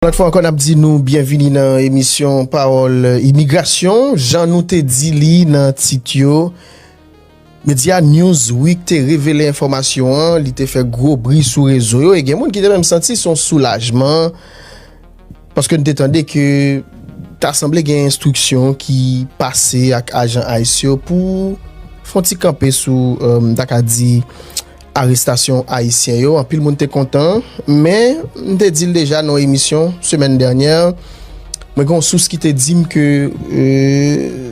Lòt fwa ankò n ap di nou byenvini nan emisyon Pawòl Imigrasyon. Jan nou te di li nan tit yo, medya Newsweek te revele enfòmasyon an, li te fè gwo bri sou rezo yo e gen moun ki te menm santi son soulajman paske n te tande ke ta sanble gen enstriksyon ki pase ak ajan ice yo pou fon ti kanpe sou, m ta ka di. Arestasyon Ayisyen yo, anpil moun te kontan, men m te di l deja nan yon emisyon semèn dènyè, mwen gen yon sous ki te di m ke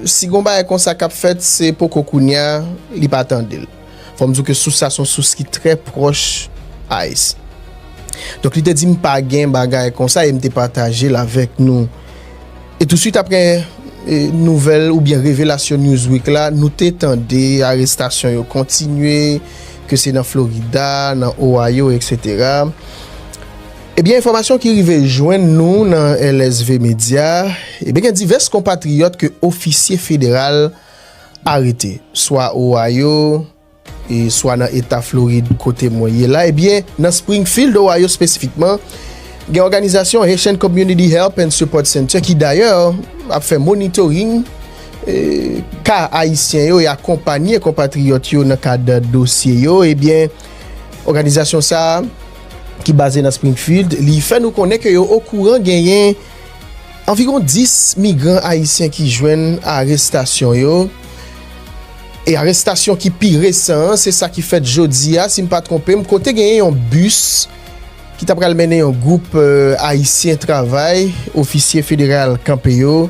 si gen yon bagay konsa k ap fèt se poko kounye a li pa tande l. Fò m di w ke sous sa se yon sous ki trè pwòch ice. Donk li te di m pa gen bagay konsa e m te pataje l avèk nou. E touswit apre nouvèl oubyen revelasyon Newsweek la, nou te tande arestasyon yo kontinye, ke se nan Florida, nan Ohio, etc. Ebyen enfòmasyon ki rive jwenn nou nan LSV Media, ebyen gen divès konpatriyòt ke ofisye federal arete, swa Ohio, e swa nan Eta Florid kote mwen ye la, ebyen nan Springfield, Ohio spesifikman, gen òganizasyon Haitian Community Help and Support Center ki dayè ap fè monitoring ka Ayisyen yo e akonpanye konpatriyòt yo nan kad dosye yo, ebyen òganizasyon sa a ki baze nan Springfield li fè nou konnen ke yo okouran genyen anviwon 10 migran Ayisyen ki jwenn arestasyon yo. E arestasyon ki pi resan an, se sa ki fèt jodi a, si m pa twonpe m, kote genyen yon bis ki ta pral mennen yon gwoup Ayisyen travay, ofisye federal kanpe yo.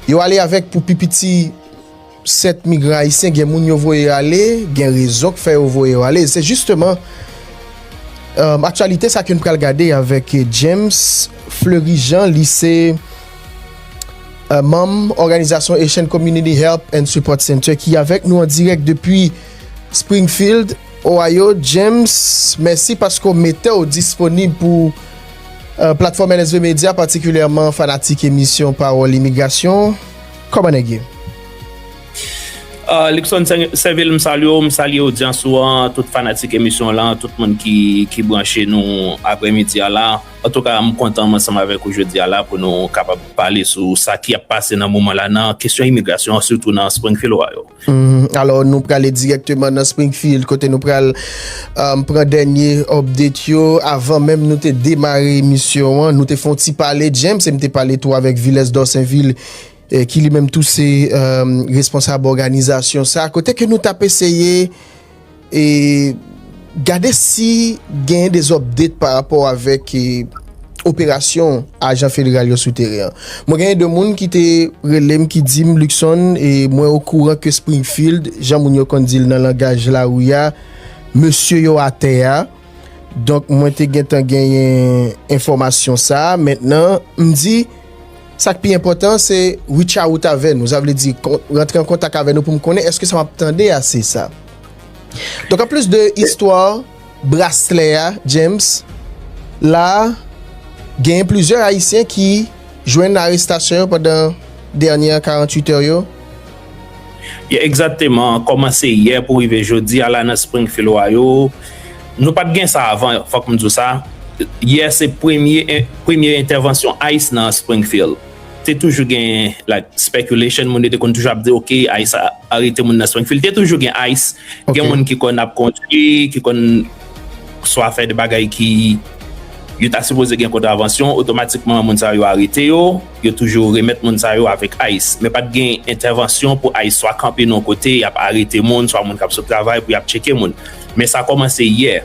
Yo ale avèk pou pi piti 7 migran Ayisyen, gen moun yo voye ale, gen rezon k fè yo voye yo ale. Se jisteman aktyalite sa ke n pral gade avèk James Fleury Jean, li se. Manm òganizasyon Haitian Community Help and Support Center ki avèk nou an dirèk depi Springfield, Ohio, James, mèsi paske w mete w disponib pou Platfòm LSV Media, patikilyèman fanatik emisyon Pawòl Imigrasyon. Kòman nèg ye? Luckson Cervil, M salye w, m salye odyans ou an, tout fanatik emisyon w lan, tout moun ki branche nou aprèmidi a la. Antouka m kontan m ansanm avèk ou jodi a la pou nou kapab pale sou sa ki ap pase nan moman la nan kesyon imigrasyon an sitou nan Springfield wa yo. Alò nou prale dirèkteman nan Springfield kote nou pral pran dènye update yo. Avan menm nou te demare emisyon an nou te fon ti pale James e m te pale tou avèk Villes Dorsainville ki li menm tou se responsab òganizasyon sa kote ke nou tap eseye e gade si genyen des update pa rapò avèk operasyon ajan federal yo sou teren an. Mwen genyen 2 moun ki te relem ki dim Luckson e mwen o kouran ke Springfield jan moun yo konn dil nan langaj lari ya mesye yo atè ya donk mwen te gentan genyen enfòmasyon sa mentnan m di Sa k pi enpòtan an se reach out avè nou, sa vle di rantre an kontak avè nou pou m konnen èske sa m ap tande a se sa. Donk an plis de istwa braslè a James, la a genyen plizyè ayisyen ki jwenn arestasyon yo pandan dènyè 48 è yo. Ye egzakteman, kòmanse yè pou rive jodi a la nan Springfield Ohio, nou pat gen sa avan fòk m di w sa, yè se premye premye entèvansyon ice nan Springfield. Te toujou gen like speculation moun yo te konn toujou ap di ok ice arete moun nan Springfield te toujou gen ice gen moun ki konn ap kondwi ki konn swa fè de bagay ki yo ta sipoze gen kontravansyon otomatikman moun sa yo arete yo. Yo toujou remèt moun sa yo avèk ice. Men pat gen entèvansyon pou ice swa kanpe nan yon kote yap arete moun swa moun kap sot travay pou yap tcheke moun. Men sa kòmanse yè.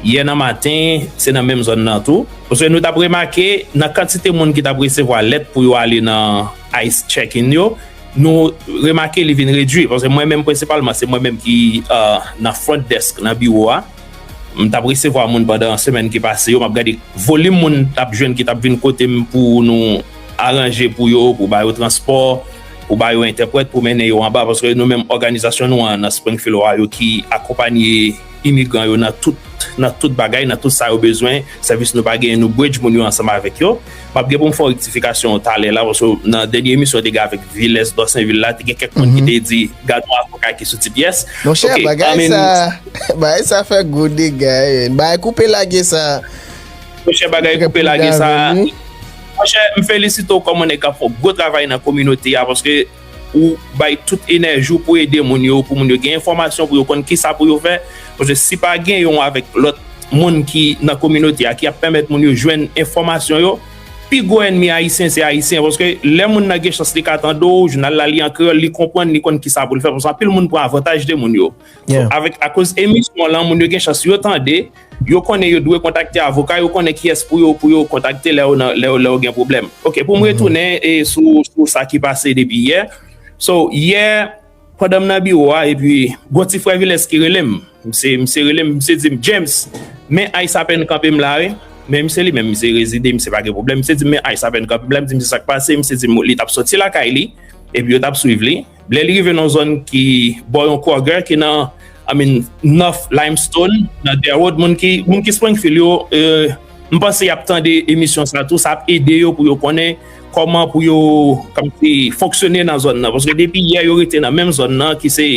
Yè nan maten, se nan menm zòn nan tou. Paske nou tap remake nan kantite moun ki tap resevwa lèt pou yo ale nan ice checking yo, nou remake li vin redwi. Paske mwen menm prensipalman se mwen menm ki nan front desk nan biwo a. M tap resevwa moun pandan semèn ki pase yo map gade volim moun tap jwenn ki tap vin kotem pou nou aranje pou yo pou ba yo transpò pou ba yo entèprèt pou mennen yo anba paske nou menm òganizasyon nou an nan Springfield Ohio ki akonpanye imigran yo nan tout nan tout bagay nan tout sa yo bezwen sèvis nou pa genyen nou bridge moun yo ansanm avèk yo. Map gen pou m fè yon rektifikasyon talè la paske nan dènye emisyon te gen avèk Vilès Dosenvil la te gen kèk moun ki te di gad yon avoka ki sou ti pyès. Monchè bagay sa bagay sa fè gwo dega bagay koupe lage sa Monchè bagay koupe lage sa Monchè m felisite w kòm yon nèg kap fè yon gwo travay nan kominote a paske Ou bay tout enèji w pou ede moun yo, pou moun yo gen enfòmasyon, pou yo konn kisa pou yo fè. Paske si pa gen yon avèk lòt moun ki nan kominote a ki ap pèmèt moun yo jwenn enfòmasyon yo, pi gwo ènmi Ayisyen se Ayisyen. Paske lè moun nan gen chans li ka tande w, jounal la li an kreyòl, li konprann, li konn kisa pou l fè. Paske anpil moun pran avantaj de moun yo. Yeah. Avèk akoz emisyon lan moun yo gen chans yo tande, yo konnen yo dwe kontakte avoka, yo konnen kiyès pou yo pou yo kontakte lè yo nan lè yo lè yo gen pwoblèm. Ok pou m retounen e sou sou sa ki pase depi yè. So yè pandan m nan biwo a epi gon ti frè Vilès ki rele m. Misye misye rele m misye di m James men ice apèn kanpe m la wi. Men misye li menm misye rezide misye pa gen pwoblèm. Misye di m men ice apèn kanpe m la m di misye sa k pase misye di m li t ap soti lakay li epi yo t ap swiv li. Lè li rive nan yon zòn ki bò yon Kroger ki nan I mean North Limestone nan Derwood moun ki moun ki Springfield yo m panse y ap tande emisyon sa tou sa ap ede yo pou yo konnen kòman pou yo kòmsi fonksyone nan zòn nan paske depi yè yo rete nan menm zòn nan ki se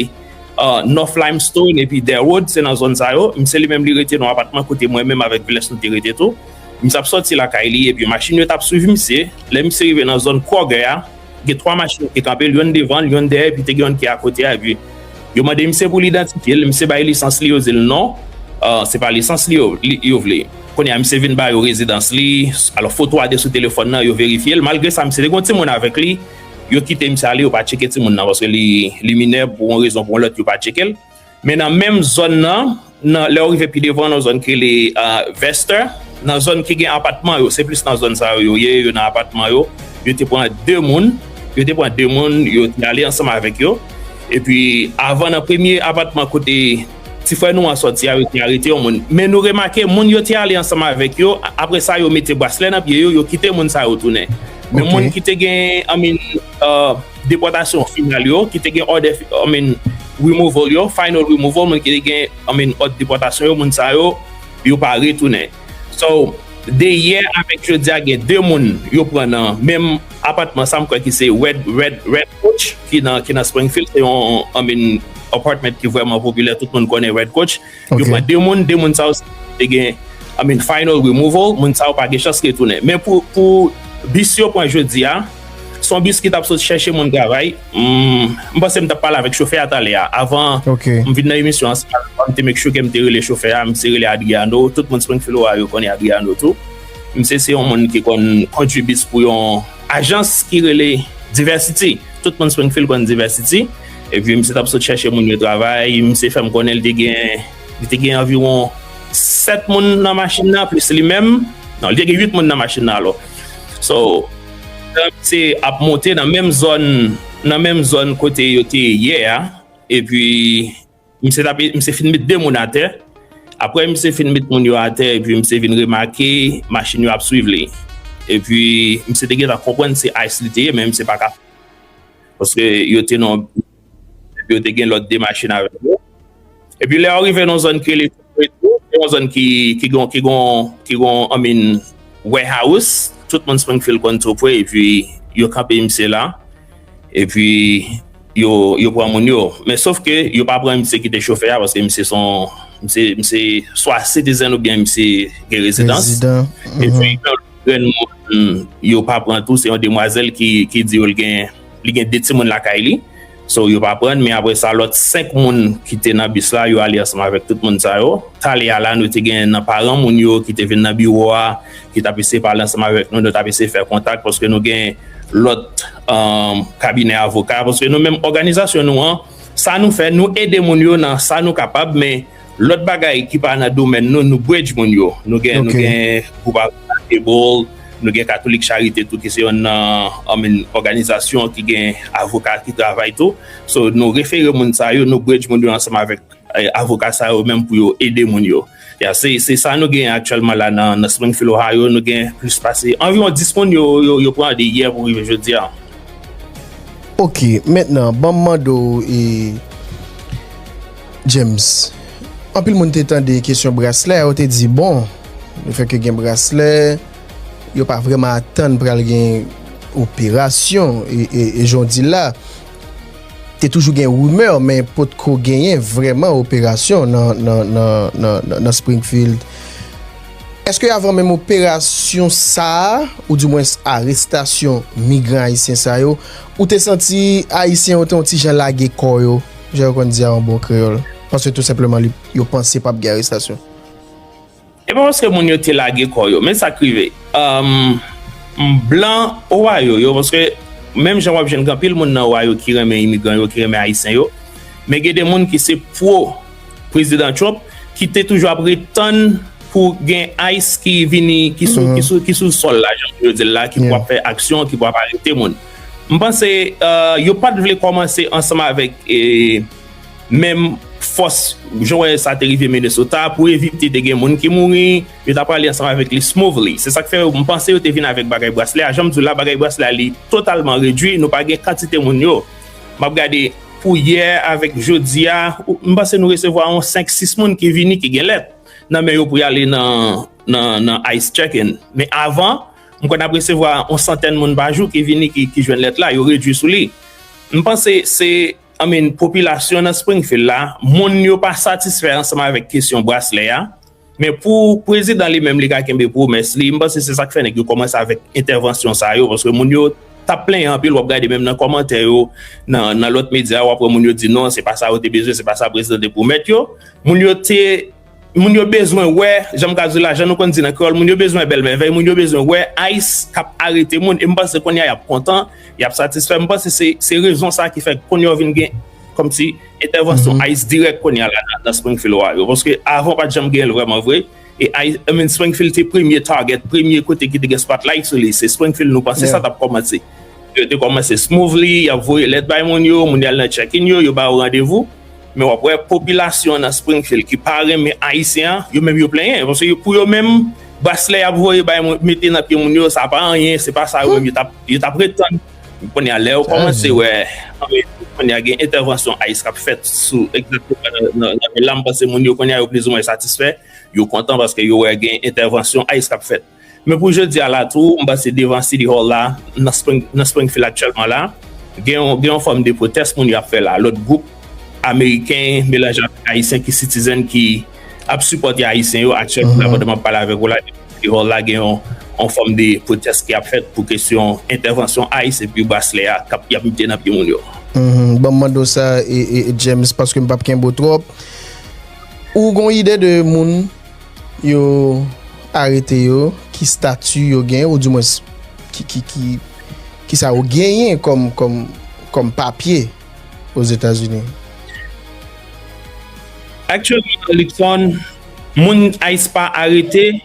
North Limestone epi Derwood se nan zòn sa yo misye li menm li rete nan yon apatman kote mwen menm avèk Viles nou te rete tou misye ap sòti lakay li epi machin yo t ap swiv misye lè misye rive nan zòn Kroger a Gen 3 machin ki te kanpe l, yonn devan l, yonn dèyè epi te gen yonn ki akote ak li. Yo mande misye pou l idantifye l, misye bay lisans li, yo di l non, se pa lisans li yo vle. Kounye a misye vin ba yo rezidans li, alò foto a te sou telefòn nan, yo verifye l, malgre sa misye te gen yon timoun avèk li, yo kite misye ale, yo pa tcheke timoun nan paske li minè, pou yon rezon pou yon lòt yo pa tcheke l. Men nan menm zòn nan, nan lè ou rive pi devan nan zòn ki rele Vester, nan zòn ki gen apatman yo, se plis nan zòn sa yo yo ye, yo nan apatman yo, yo te pran 2 moun, yo te pran 2 moun, yo te ale ansanm avèk yo, epi avan nan premye apatman kote ti frè nou an sòti a, yo te arete yon moun. Men nou remake moun yo te ale ansanm avèk yo, apre sa yo mete braslè nan pye yo, yo kite moun sa yo tounen. Men moun ki te gen, I mean. Depòtasyon final yo, ki te gen òdè, I mean, removal yo, final removal, moun ki te gen, I mean, òd depòtasyon yo, moun sa yo, yo pa retounen. So, de yè avèk jodi a gen 2 moun yo pran nan menm apatman sa, m kwè ki se Red, Red, Red Coach ki nan, ki nan Springfield, se yon, I mean, apartment ki vrèman popilè, tout moun konnen Red Coach. Yo pran 2 moun, 2 moun sa yo te gen I mean final removal, moun sa yo pa gen chans retounen. Men pou bis yo pran jodi a, se yon bis ki t ap sot chèche moun travay, m panse m t ap pale avèk chofè a talè a, avan m vin nan emisyon an se avan m te make sure ke m te rele chofè a, misye rele Adriano, tout moun Springfield Ohio yo konnen Adriano tou, misye se yon moun ki konn kondwi bis pou yon ajans ki rele Diversity, tout moun Springfield konn Diversity. Epi misye t ap sot chèche moun yo travay, misye fè m konnen li te gen, li te gen anviwon 7 moun nan machin nan plis li menm, non li te gen 8 moun nan machin nan alò. So, pandan misye ap monte nan menm zòn, nan menm zòn kote yo te yè a, epi. Misye tap misye fin met 2 moun atè aprè misye fin met moun yo atè epi misye vin remake machin yo ap swiv li epi misye te gentan konprann se ice li te ye men misye pa ka paske yo te nan epi yo te gen lòt 2 machin avèk yo epi lè yo rive nan zòn ki rele Se yon zòn ki gen anpil warehouse, tout moun Springfield konn Two Prairie epi yo kanpe misye la epi yo pran moun yo men sof ke yo pa pran misye ki te chofè a paske misye se yon swa citizen oubyen misye gen rezidans epi yon lòt grenn moun yo pa pran tou se yon demwazèl ki di yo li gen 2 timoun lakay li. So yo pa prann men apre sa lòt 5 moun ki te nan bis la yo ale ansanm avèk tout moun sa yo. Tale a la nou te gen nan paran moun yo ki te vin nan biwo a ki t ap eseye pale ansanm avèk nou, nou t ap eseye fè kontak paske nou gen lòt kabinè avoka paske nou menm òganizasyon nou an sa nou fè nou ede moun yo nan sa nou kapab men Lòt bagay ki pa nan domèn nou, nou bridge moun yo. Nou gen gwoup avoka Able, nou gen Katolik Charite tou ki se yonn nan òganizasyon ki gen avoka ki travay tou. So nou refere moun sa yo, nou bridge moun yo ansanm avèk avoka sa yo menm pou yo ede moun yo. Ya se sa nou gen aktyèlman la nan Springfield, Ohio, nou gen plis pase anviwon 10 moun yo pran ede yè pou rive jodi a. Ok, mentnan ban m mande w e. James, Anpil moun te tande kesyon braslè a, yo te di bon, le fè ke gen braslè, yo pa vreman atann pral gen operasyon, e jan w di l la, te toujou gen rimè, men potko genyen vreman operasyon nan Springfield. Eske avan menm operasyon sa a, ou di mwens arestasyon migran ayisyen sa yo, ou te santi ayisyen yo te yon ti jan lage kò yo? Jan yo konn di a an bon kreyòl. Paske tou senpleman li, yo panse pap gen arestasyon. E pa paske moun yo te lage kò yo. Men sa k rive. Umm blan Ohio yo, paske menm jan wap jwenn gen anpil moun nan Ohio ki renmen imigran yo, ki renmen ayisyen yo, men gen de moun ki se pro Prezidan Trump ki te toujou ap ret tann pou gen ice ki vini, ki sou sòl la jan yo di l la, ki pou ap fè aksyon, ki pou ap arete moun. M panse yo pat vle kòmanse ansanm avèk menm fòs jan wè sa te rive Minnesota pou evite te gen moun ki mouri yo ta prale ansanm avèk li smoothly se sak fè m panse yo te vin avèk bagay braslè a jan m di w la bagay braslè a li totalman redwi nou pa gen kantite moun yo m ap gade pou yè avèk jodi a m panse nou resevwa yon 5 6 moun ki vini ki gen lèt nan men yo pou y ale nan ice checking men avan M kwè n ap resevwa yon santèn moun pa jou ki vini ki jwenn lèt la, yo redui sou li. M panse se, I mean, popilasyon nan Springfield la, moun yo pa satisfè ansanm avèk kesyon braslè a. Men pou prezidan li menm li ka kenbe pwomès li, m panse se sa k fè nèg yo kòmanse avèk entèvansyon sa yo paske moun yo t ap plenyen anpil. W ap gade menm nan kòmantè yo nan lòt medya w ap wè moun yo di non se pa sa yo te bezwen, se pa sa prezidan te pwomèt yo. Moun yo te. Moun yo bezwen wè, jan m ka di la, jan nou konn di nan kreyòl, moun yo bezwen bèl mèvèy, moun yo bezwen wè ice k ap arete moun. E m panse kounye a y ap kontan, y ap satisfè. M panse se rezon sa a ki fè kounye a vin gen kòmsi entèvansyon ice dirèk kounye a la nan Springfield, Ohio. Paske avan, pa t janm gen l vrèman vre. E ice, I mean Springfield te premye target, premye kote ki te gen spotlight sou li. Se Springfield nou panse sa t ap kòmanse. Yo te kòmanse smoothly, y ap voye lèt bay moun yo, moun yo al nan check-in yo, yo ba yo randevou. Men wap wè popilasyon an nan Springfield ki pa renmen Ayisyen an, yo menm yo plenyen. Paske pou yo menm, braslè yap voye bay moun, mete nan pye moun yo, sa pa anyen, se pa sa yo menm yo tap ret tann. Men kounye a, lè yo kòmanse wè, kounye a gen entèvansyon ice kap fèt sou egzakteman nan vil la, m panse moun yo kounye a yo plizoumwen satisfè, yo kontan paske yo wè gen entèvansyon ice kap fèt. Men pou jodi a la tou, m panse devan City Hall la, nan Springfield aktyèlman la, gen yon fòm de pwotès moun yo ap fè la. Lòt gwoup Ameriken melanje avèk Ayisyen ki sitizèn ki ap sipòte Ayisyen yo aktyèlman la, pandan m ap pale avèk ou la, devan City Hall la gen yon fòm de pwotès ki ap fèt pou kesyon entèvansyon ice epi braslè a k ap y ap mete nan pye moun yo. Ban m mande w sa James, paske m p ap kenbe w twòp. Ou gen yon ide de moun Yo arete yo, ki stati yo gen, ou di mwens ki sa yo genyen kòm papye o Zetazini? Aktyèlman, Luckson, moun ICE pa arete,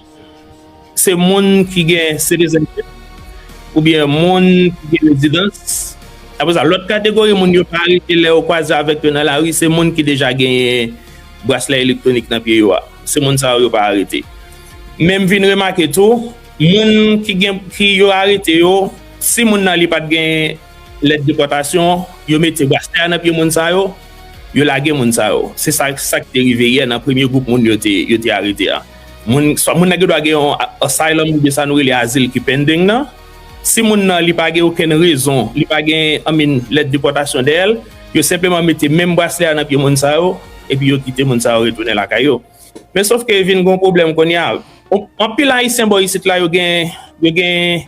Se moun ki gen sitizènchip oubyen moun ki gen rezidans. Apre sa, lòt kategori moun yo pa arete lè ou kwaze avèk yo nan lari, se moun ki deja genyen braslè elektwonik nan pye yo a. Se moun sa yo yo pa arete. Men m vin remake tou, moun ki gen, ki yo arete yo, si moun nan li pa t gen lèt depòtasyon, yo mete braslè a nan pye moun sa yo, yo lage moun sa yo. Se sa, sa k te rive yè nan premye gwoup moun yo te, yo te arete a. Moun, swa moun nan gen dwa gen yon asylum oubyen sa nou rele azil ki pending nan. Si moun nan li pa gen okenn rezon, li pa gen I mean lèt depòtasyon dèyè l, yo senpleman mete menm braslè a nan pye moun sa yo epi yo kite moun sa yo retounen lakay yo. Men sof ke vin gen yon pwoblèm kounye a. Anpil ayisyen bò isit la yo gen yo gen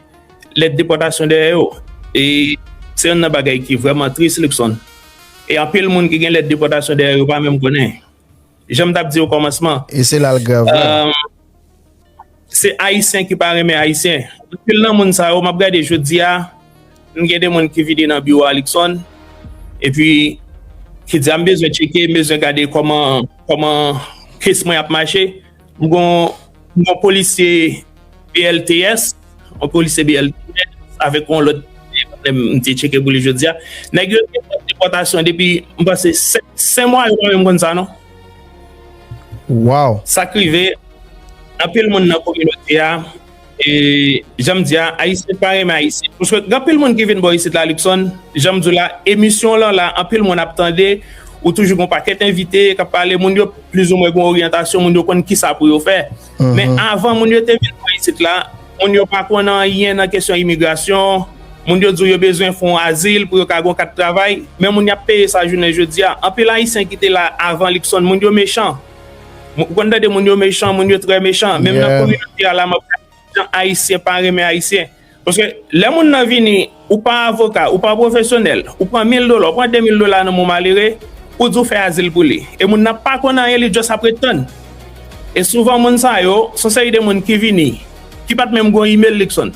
lèt depòtasyon dèyè yo e se youn nan bagay ki vrèman tris Luckson. E anpil moun ki gen lèt depòtasyon dèyè yo pa menm konnen. Jan m t ap di okòmansman. E se la l grav la. Se Ayisyen ki pa renmen Ayisyen. Anpil nan moun sa yo, m ap gade jodi a, m gen de moun ki vini nan biwo Alikson, epi ki di a m bezwen tcheke, m bezwen gade kòman kès mwen ap mache. M gon yon polisye BLTS, yon polisye BLTS avèk yon lòt m te tcheke pou li jodi a. Nèg yo te fè depòtasyon depi m panse 5 mwa yo pa menm konn sa non. Waww. Sa k rive anpil moun nan kominote a E janm di a, ayisyen pa renmen ayisyen. M swete gen anpil moun ki vin bò isit la Luckson, janm di w la emisyon w lan la anpil moun ap tande, ou toujou gen yon pakèt envite k ap pale, moun yo plizoumwen gen yon oryantasyon, moun yo konn kisa pou yo fè. Men avan moun yo te vin bò isit la, moun yo pa konn anyen nan kesyon imigrasyon, moun yo di w yo bezwen fè yon azil pou yo ka gen yon kat travay, men moun y ap peye sa jounen jodi a. Anpil ayisyen ki te la avan Luckson, moun yo mechan. Ou konn tande moun yo mechan, moun yo trè mechan. Menm nan kominote a la map gade ki jan ayisyen pa renmen ayisyen. Paske lè moun nan vini, ou pa avoka, ou pa pwofesyonèl, ou pran 1000 dola, ou pran 2000 dola nan men yon malere, ou di ou fè azil pou li. E moun nan pa konn anyen, li just ap ret tann. E souvan moun sa yo, se yon seri de moun ki vini, ki pat menm gon email li kson.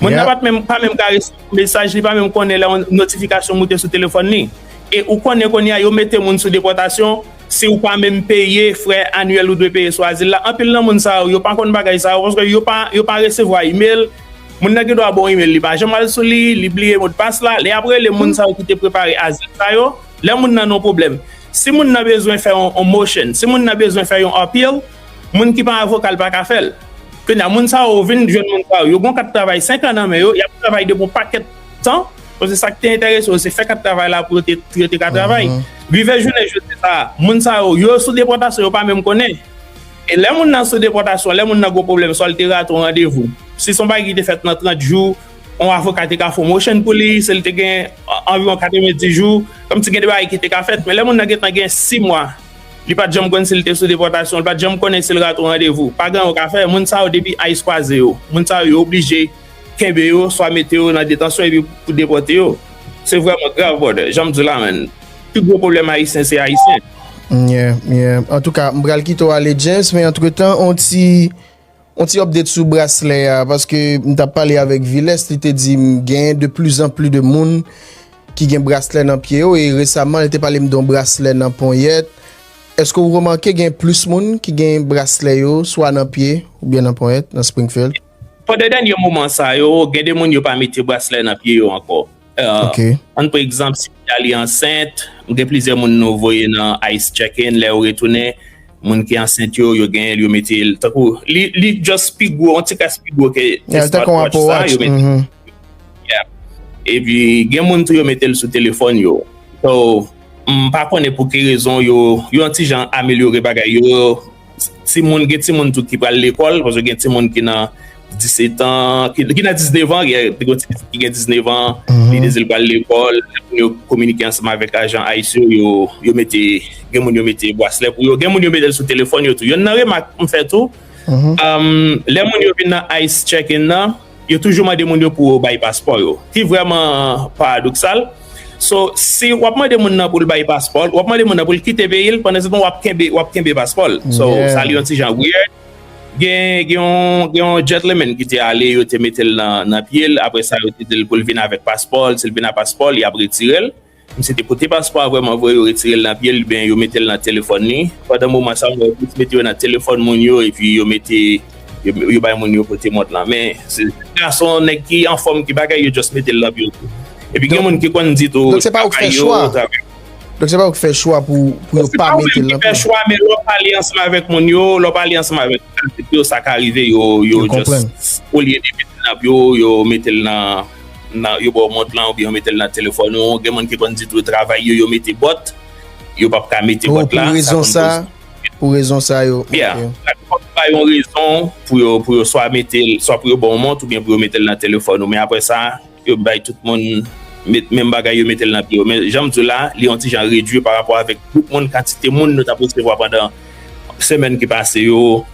Moun nan pat menm, pa menm ka resevwa yon mesaj, li pa menm konnen lè yon notifikasyon moute sou telefòn li. E ou konnen kounye a yo mete moun sou depòtasyon. Si ou pa menm peye frè anuel ou dwe peye sou azil la anpil nan moun sa yo yo pa konn bagay sa yo paske yo pa yo pa resevwa email moun nan gen dwa ba w email li pa janm al sou li li bliye modpas la lè yap rele moun sa yo ki te prepare azil sa yo lè moun nan nan pwoblèm si moun nan bezwen fè yon motion si moun nan bezwen fè yon appeal moun ki pa avoka l pa ka fè l kounya moun sa yo vin jwenn moun sa yo yo gon kat travay 5 an nan men yo yap travay depi yon pakèt tan, paske sa ki te enterese yo se fè kat travay la pou yo te pou yo te ka travay. Rive jounen jodi sa a, moun sa yo, yo sou depòtasyon, yo pa menm konnen. E lè moun nan sou depòtasyon, lè moun nan gen pwoblèm, swa li te rate yon randevou, si se yon bagay ki te fèt nan 30 jou, yon avoka te ka fè yon motion pou li, si li te gen anviwon 90 jou, kòmsi gen de bagay ki te ka fèt. Men lè moun nan gen tan gen 6 mwa, li pa t janm konn si li te sou depòtasyon, li pa t janm konnen si li rate yon randevou. Pa gen anyen yo ka fè. Moun sa yo depi ice kwaze yo, moun sa yo yo oblije. Kenbe yo, swa mete yo nan detansyon epi pou depòte yo. Se vrèman grav brother, janm di w la man. Pi gwo pwoblèm ayisyen se ayisyen. Yeah, yeah. Antouka, m pral kite w ale James, men antretan yon ti yon ti update sou braslè a paske m tap pale avèk Viles, li te di m genyen de pli zan pli de moun ki gen braslè nan pye yo e resaman li te pale m de yon braslè nan ponyèt. Eske ou remake gen plis moun ki gen braslè yo swa nan pye oubyen nan ponyèt nan Springfield? Pandan dènye moman sa yo, gen de moun yo pa mete braslè nan pye yo ankò. An pou egzanp, si Natalie ansent, gen plizyè moun nou voye nan ice check-in, lè yo retounen, moun ki ansent yo, yo genyen l, yo mete l. Tankou, li just pi gwo, yon ti kras pi gwo ke smartwatch sa, yo mete l. E pi, gen moun tou yo mete l sou telefòn yo. So, m pa konnen pou ki rezon yo, yo yon ti jan amelyore bagay yo. Timoun, gen timoun tou ki pral lekòl, paske gen timoun ki nan 17 an, ki nan 19 an, te gen ti pitit ki gen 19 an, li dezi l pral lekòl, pou yo kominike ansanm avèk ajan ice yo, yo, yo mete, gen moun yo mete bwaslè pou yo, gen moun yo mete l sou telefòn yo tou. Yonn nan remak m fè tou, lè moun yo vin nan ice check-in nan. Yo toujou mande moun yo pou yo bay paspò yo, ki vrèman paradoksal. So, si w ap mande moun nan pou l bay paspò l, w ap mande moun nan pou l kite peyi l, pandansetan w ap kenbe, w ap kenbe paspò l. So, sa li yon ti jan weird. Gen, gen yon, gen yon gentleman ki te ale, yo te mete l nan, nan pye l, apre sa yo te di l pou l vin avèk paspò l, si l vin ak paspò l, y ap retire l. Misye te pote paspò a vrèman vre yo retirel nan pyel ubyen yo metel nan telefòn li pandan moman sa mwen wè plis mete yo nan telefòn moun yo epi yo mete yo bay moun yo pote mont lan men se gason nèg ki anfòm ki bagay yo just metel nan pyel tou epi gen moun ki konn di tou travay yo travay Donk se pa ou ki fè chwa pou yo pa metel nan pyel la? Non se pa ou menm ki fè chwa men lè w pale ansanm avèk moun yo lè w pale ansanm avèk tèt yo sa ka rive yo just olye yo metel nan pye w yo metel nan. Nan yo baw mont lan oubyen yo metel nan telefòn ou gen moun ki konn di tou travay yo yo mete bòt yo pap ka mete bòt la sa konn koz Pou rezon sa yo ok ya laplipa yo bay yon rezon Pou yo Pou yo swa metel swa Pou yo baw mont oubyen Pou yo metel nan telefòn ou men aprè sa yo bay tout moun met menm bagay yo metel nan pye yo men janm diw la li yon ti jan redwi parapò avèk gwoup moun kantite moun nou tap resevwa pandan semèn ki pase yo.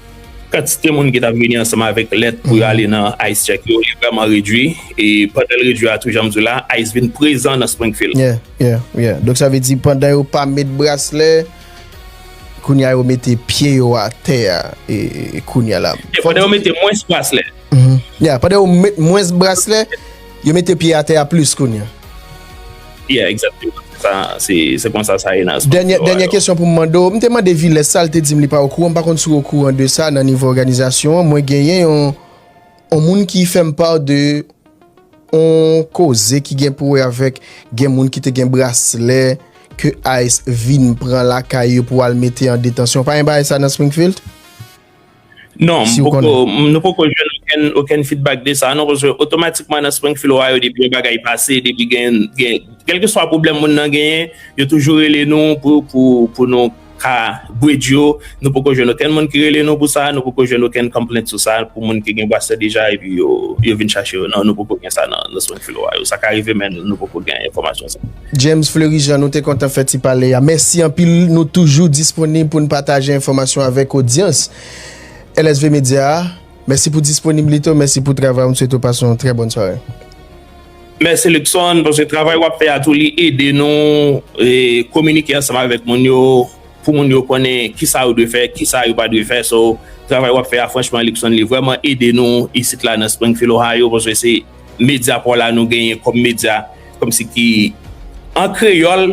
Kantite moun ki t ap vini ansanm avèk lèt pou yo ale nan ice check yo li vrèman redwi e pandan l redwi a tou jan m di w la ice vin prezan nan Springfield. Yeah, yeah, yeah. Donk sa vle di pandan yo pa met braslè kounye a yo mete pye yo atè a e kounye a la. Yeah, pandan yo mete mwens braslè. Yeah, pandan yo met mwens braslè, yo mete pye atè a plis kounye a. Yeah exactement se sa se konsa sa ye nan sport yo a yo. Dènyè kesyon pou m mande w, m te mande Vilès sa l te di m li pa okouran, m pa konn si w okouran de sa nan nivo òganizasyon an mwen genyen yon yon moun ki fè m part de yon koze ki gen pou wè avèk gen moun ki te gen braslè ke ice vin pran lakay yo pou al mete an detansyon pa gen bagay sa nan Springfield? Non, m poko, nou poko jwenn okenn, okenn fidbak de sa non, paske otomatikman nan Springfield, Ohio depi yon bagay pase, depi gen, gen, kèlkeswa pwoblèm moun nan genyen, yo toujou rele nou pou, pou, pou nou ka bridge yo, nou poko jwenn okenn moun ki rele nou pou sa, nou poko jwenn okenn complaint sou sa, pou moun ki gen bwasè deja epi yo, yo vin chache yo, non, nou poko gen sa nan, nan Springfield, Ohio, sa ka rive men nou poko gen enfòmasyon sa. James Fleury Jean, nou te kontan fè ti pale a. Mèsi anpil, nou toujou disponib pou n pataje enfòmasyon avèk odyans LSV Media a. Mèsi pou disponiblite w, mèsi pou travay w, m swete w pase yon trè bòn sware. Mèsi Luckson, paske travay w ap fè a tou li ede nou kominike ansanm avèk moun yo, pou moun yo konnen ki sa yo dwe fè, ki sa yo pa dwe fè. So, travay w ap fè a franchman Luckson li vrèman ede nou isit la nan Springfield Ohio, paske se. Medya paw la nou genyen kòm medya kòm si ki an kreyòl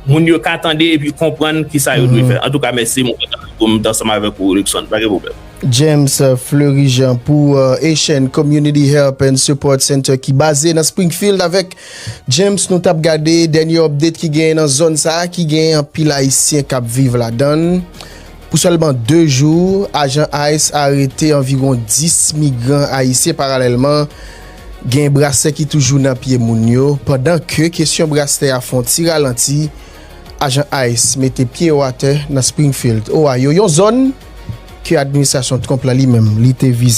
moun yo ka tande epi konprann kisa yo dwe fè antouka mèsi mwen kontan pou m t ansanm avèk ou Luckson pa gen pwoblèm. James Fleurijant pou Haitian Community Help and Support Center ki baze nan Springfield avèk James nou tap gade dènye update ki genyen nan zòn sa ki genyen anpil ayisyen kap viv ladann. Pou sèlman 2 jou, ajan ice arete anviwon 10 migran ayisyen paralèlman gen braslè ki toujou nan pye moun yo pandan ke kesyon braslè a fon ti ralanti ajan ice mete pye yo atè nan Springfield, Ohio, yon zòn ke administrasyon Trump la li menm li te vize.